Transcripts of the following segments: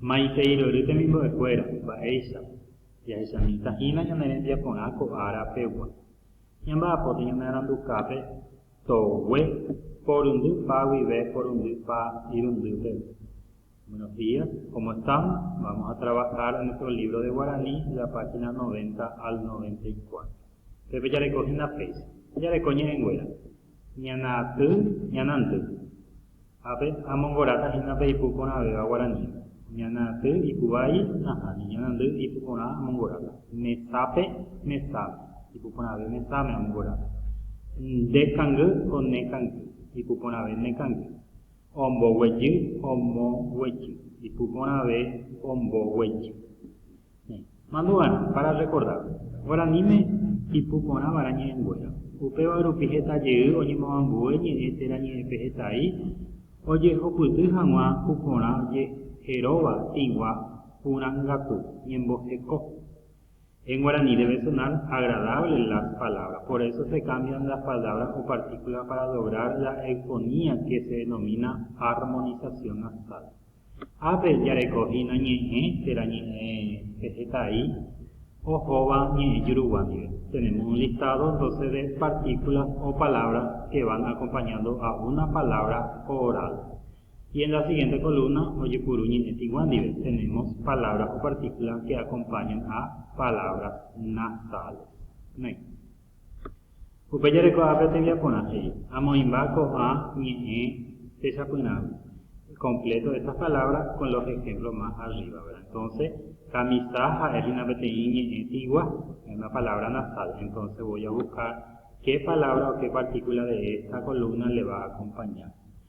Maitei rory temimbo'ekuéra, mba'éicha jahechamíta hína ñane rembiaporã ko ára pegua. Ñamba'apóta ñanearandukápe togue porundy pa guive porundy pa irundy peve. Buenos días, cómo estamos? Vamos a trabajar en nuestro libro de guaraní de la página 90 al 94. Pépe jareko hína péicha. Jareko ñe'ẽnguéra, ñana ty, ñana ndy. Ha pe amongoráta hína pe ipu porãvéva guarani, ñana aty ipu vai, ahã, ni ñana ndy ipu porã amongoráta. Mesápe, mesáme, ipu porãve mesáme amongoráta. Nde kangy ko ne kangy, ipu porãve ne kangy. Ombo guejy, omo guejy, ipu porãve ombo guejy. Mandu'arã, para rrekorda, guaraníme ipu porã vara ñe'ẽnguéra. Upéva rupi heta jey oñemoambue ñe'ẽ térã ñe'ẽpe hetai ojehupyty hag̃ua ku porã jeheróva tĩgua purã gatu, ñemboheko. En guaraní debe sonar agradable las palabras, por eso se cambian las palabras o partículas para lograr la eufonía que se denomina armonización nasal. Ápe jarekohína ñe'ẽ térã ñe'ẽ pehetái ohóva ñe'ẽ jurugua ndive. Tenemos un listado entonces de partículas o palabras que van acompañando a una palabra oral. Y en la siguiente columna ojepuru ñe'ẽ tigua ndive tenemos palabras o partículas que acompañan a palabras nasales. Next. Upe jareko ápe tembiaporã he'i, Amoĩmba ko'ã ñe'ẽ techapyrãgui, completo estas palabras con los ejemplos más arriba, ¿verdad? Entonces, camisa ha'e hína peteĩ ñe'ẽ tigua, es una palabra nasal, entonces voy a buscar qué palabra o qué partícula de esta columna le va a acompañar.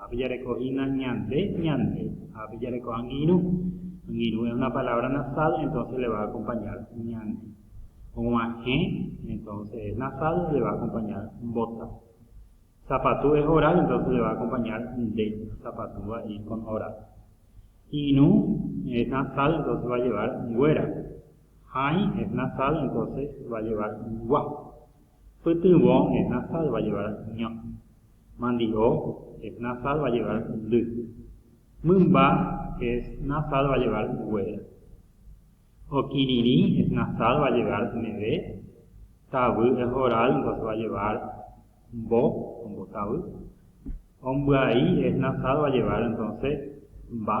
Ha pejareko hína ñande, ñande. Ha pejareko angirũ. Angirũ es una palabra nasal, entonces le va a acompañar ñande. Og̃uahẽ, entonces es nasal, le va a acompañar mbota. Sapatu es oral, entonces le va a acompañar nde. Sapatu va a ir con oral. Irũ es nasal, entonces va a llevar nguéra. Hãi es nasal, entonces va a llevar ngua. Pytyvõ es nasal, va a llevar ño. Mandi'o es nasal va llevar un ly. Mymba es nasal va llevar un guéra. Okirirĩ es nasal va llevar un eve. Tavy es oral entonces va llevar mbo, ombotavy. Ombyai es nasal va llevar entonces mba.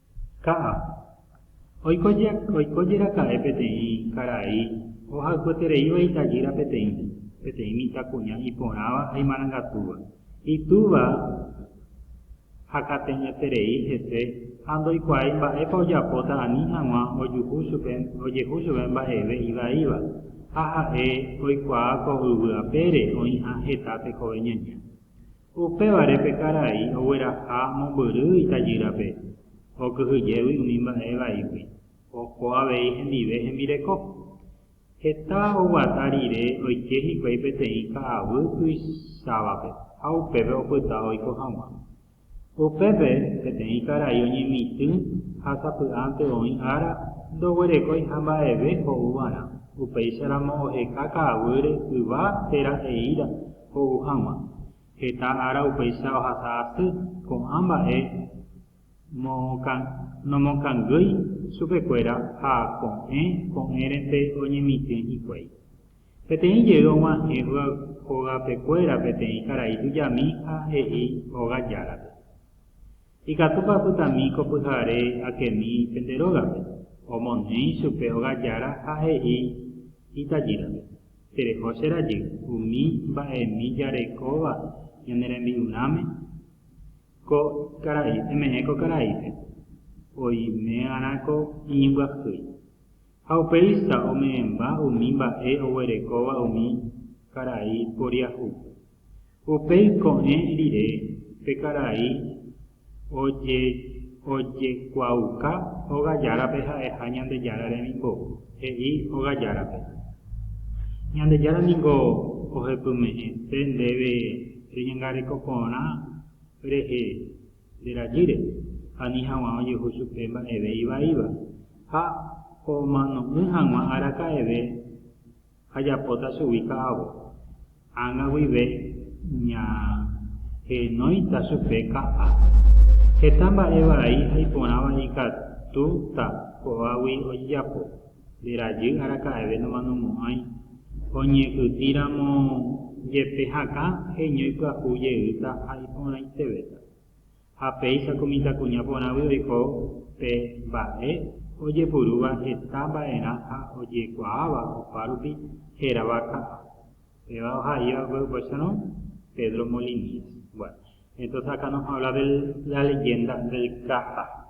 Ka'a. Oiko je, oiko jeraka'e peteĩ karai ohayhuetereíva itajýra peteĩ, peteĩ mitãkuña iporãva ha imarangatúva. Itúva hakateñeterei hese ha ndoikuaái mba'épa ojapóta ani hag̃ua ojuhu chupe, ojehu chupe mba'eve ivaíva, ha ha'e oikuaa ko yvy apére oĩha heta tekove ñaña. Upévare pe karai ogueraha mombyry itajýrape, okyhyjégui umi mba'e vaígui, oho avei hendive hembireko. Heta oguata rire oike hikuái peteĩ ka'aguy tuichávape ha upépe opyta oiko hag̃ua. Upépe peteĩ karai oñemitỹ ha sapy'ánte oĩ ára ndoguerekóiha mba'eve ho'u va'erã, upéicharamo oheka ka'aguýre yva térã he'íra ho'u hag̃ua. Heta ára upéicha ohasa asy ko'ã mba'e nomokangýi chupekuéra ha ko'ẽ ko'ẽrente oñemitỹ hikuái. Peteĩ jey og̃uahẽ hogapekuéra peteĩ karai tujami ha he'i óga járape, Ikatúpa apytami ko pyhare akemi pende rógape? Omoneĩ chupe óga jára ha he'i itajýrape. Tereho che rajy umi mba'emi jarekóva ñane rembi'urãme. Ko karai, eme'ẽ ko karaípe, oime'arã ko iñimbyahýi. Ha upéicha ome'ẽmba umi mba'e oguerekóva umi karai poriahúpe. Upéi ko'ẽ rire pe karai ojekuaauka óga járape ha'eha Ñandejára remimbou, he'i óga járape, Ñandejára ningo ohepyme'ẽse ndéve reñangareko porã rehe nde rajýre, ani haguã ojehu chupe mba'eve ivaíva, ha omano'ỹ haguã araka'eve Ajapóta chugui ka'avo. Ág̃a guive ñahenóita chupe ka'a. Heta mba'e vai ha iporãva ikatúta ko'águi ojejapo. Nde rajy araka'eve nomanomo'ãi. Oñe'ytĩramo jepe hakã heñói pyahu jeýta ha iporãitevéta. ha péicha ko mitãkuña porãgui oiko pe mba'e ojepurúva heta mba'erã ha ojekuaáva opárupi hérava ka'a, péva oha'íva pe upéicharõ Pedro Molinies. Bueno, entonces acá nos habla de la leyenda del ka'a.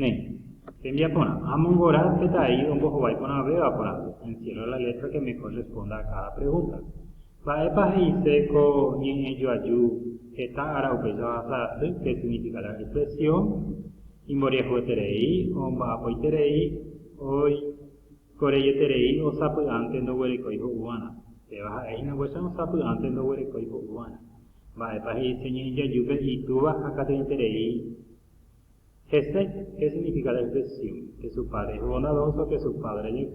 Néi, tembiaporã, amongora petai ombohovái porãvéva porãve, encierra la letra que mejor responda a cada pregunta. Mba'épa he'ise ko ñe'ẽ joaju heta ára upéicha ohasa asy que significa la expresión imboriahueterei o mba'apoiterei oikoreieterei osapy'ánte ndoguerekói ho'uva'erã? Péva ha'e hína guacha osapy'ánte ndoguerekói ho'uva'erã. Mba'épa he'ise ñe'ẽ joajúpe itúva hakate'ỹterei Hese, he significa la expresión que su padre es bondadoso, que su padre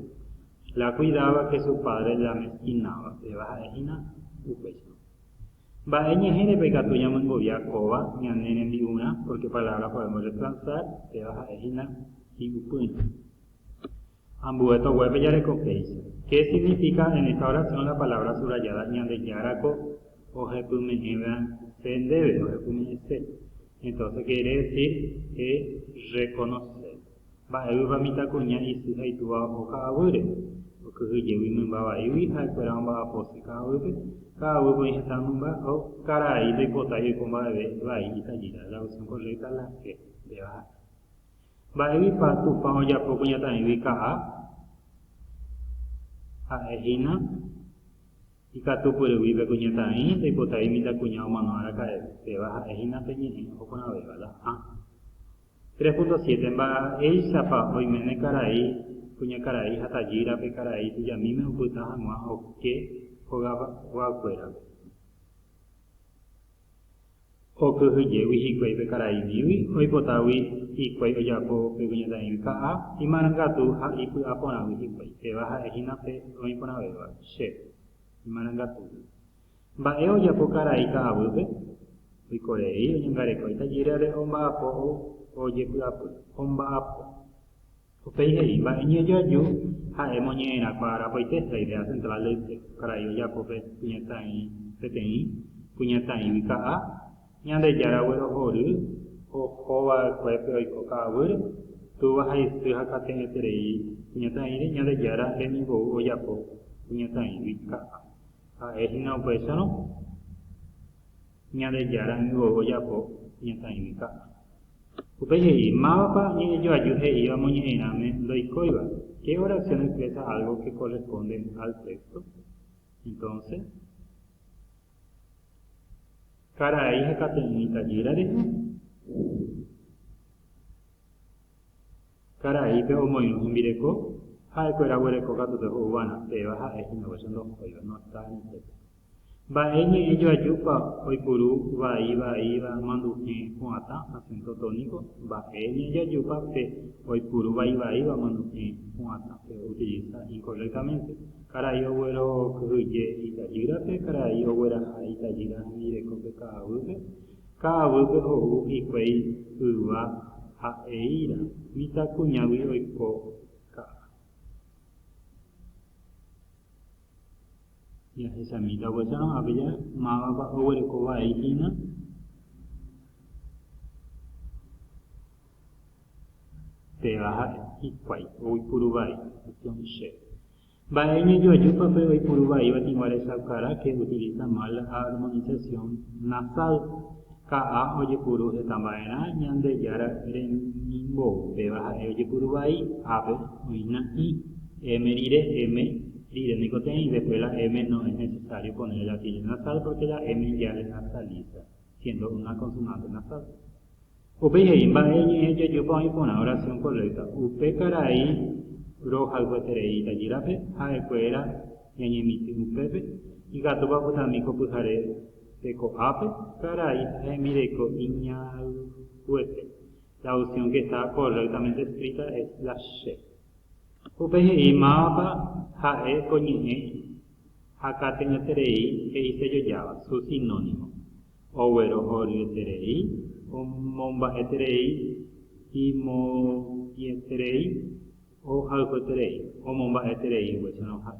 la cuidaba, que su padre la amestinaba, péva ha'e hína upéicha. Mba'e ñe'ẽrépa ikatu ñamyengovia kóva ñane rembi'urã, porque palabra podemos reemplazar, péva ha'e hína hi'upyrã. Ambue toguépe jareko péicha. Qué significa en esta oración la palabra subrayada Ñandejára ko ohepyme'ẽva'ekue ndéve, ohepyme'ẽse. Entonces quiere decir he reconoce. Mba'éguipa mitãkuña isy ha itúva oho ka'aguýre? Okyhyjégui mymba vaígui ha'ekuéra omba'apose ka'aguýpe. Ka'aguýpe oĩ heta mymba ha karai ndoipotái oiko mba'eve vai itajýra. La opción correcta la C. Ndéva ha'e. Mba'éipa Tupã ojapo kuñataĩgui ka'a? Ha'e hína ikatupyrygui pe kuñataĩ ndaipotái mitãkuña omano araka'eve, péva ha'e hína pe ñe'ẽ oho porãvéva la A. 3.7 Mba'éichapa oiméne karai, kuñakarai ha tajýra pe karai tujamíme opyta hag̃ua oke hogayguakuérape? Okyhyjégui hikuái pe karai Billy oipotágui hikuái ojapo pe kuñataĩgui ka'a imarangatu ha ipy'aporãgui hikuái, péva ha'e hína pe roĩporãvéva, che imarangatúgui. Mba'e ojapo karai ka'aguýpe? Oiko rei oñangareko itajýrare omba'apo ou ojepy'apy. Omba'apo. Upéi he'i, Mba'e ñejoaju ha'e moñe'ẽrakuaa rapaite la idea central del texto karai ojapo pe kuñataĩ peteĩ, kuñataĩgui ka'a, Ñandejára guerohory oho va'ekuépe oiko ka'aguýre, túva ha isy ha kate'ẽterei kuñataĩre, Ñandejára rembiguou ojapo kuñataĩgui ka'a. Ha'e hína upéicharõ. Ñandejára ningo ojapo iñakãigui ka'a. Upéi he'i, Mávapa ñe'ẽjoaju he'íva moñe'ẽirãme ndoikóiva? ¿Qué oración expresa algo que corresponde al texto? Entonce, karai hekate'ỹi tajýra rehe. Karaípe omoirũ hembireko, ha'ekuéra oguereko katu pe ho'u g̃uarã, péva ha'e hína guáicha ndohóiva, no está en el texto. Mba'e ñe'ẽ joajúpa oipuru vai, vaíva, manduhẽ, pu'atã, acento tónico, Mba'e ñe'ẽ joajúpa pe oipuru vai, vaíva, manduhẽ, pu'atã, se utiliza incorrectamente. Karai oguerokyhyje itajýrape, Karai ogueraha itajýra hembirekópe ka'aguýpe, Ka'aguýpe ho'u hikuái yva ha eíra, Mitãkuñágui oiko ka'a. Jahechamíta oguecha ko'ãpe ja, mávapa oguereko vai hína? Péva ha'e hikuái oipuru vai, opción C. Mba'e iñejoajúpa pe oipuru vaíva tĩgua rechaukarã que utiliza mal la armonización nasal? Ka'a ojepuru heta mba'erã Ñandejára remimbou, péva ha'e ojepuru vai, ápe, oĩna i, m rire, eme, rire niko te'ẽi, después la m no es necesario poner el atilio nasal porque la m ya le nasaliza. siéndo una konsonánte nasál. Upéi he'i mba'e ñe'ẽ jajopa oĩ porã orasión korrékta, upe karai rohayhueterei tajýrape ha'ekuéra ñañemitỹ upépe, ikatúpa opytami ko pyhare pe ko'ápe, karai hemireko iñayhuete, la opción que está correctamente escrita es la C. Upéi he'i mávapa ha'e ko ñe'ẽ ha kate'ỹeterei he'i sellojáva su sinónimo, oguerohoryeterei, omomba'eterei, imo'ieterei, ohayhueterei, omomba'eterei oguecherõha.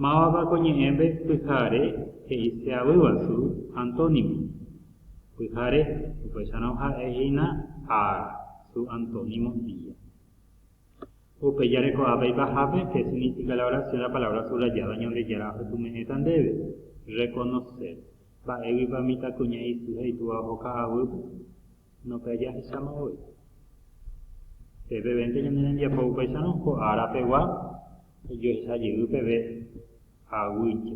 Mávapa ko ñe'ẽme pyhare he'ise avýva su antónimo? Pyhare, upéicharõ ha'e hína ára, su antónimo día. Upe jarekohápe ipahápe, che significa la oración la palabra subrayada Ñandejára ohepyme'ẽta ndéve, reconoce. Mba'éguipa mitãkuña isy ha itúva oho ka'aguýpe? No pe ajahecháma voi. Pe pevénte ñane rembiapo upéicharõ ko ára pegua, jajohecha jey peve aguýicha.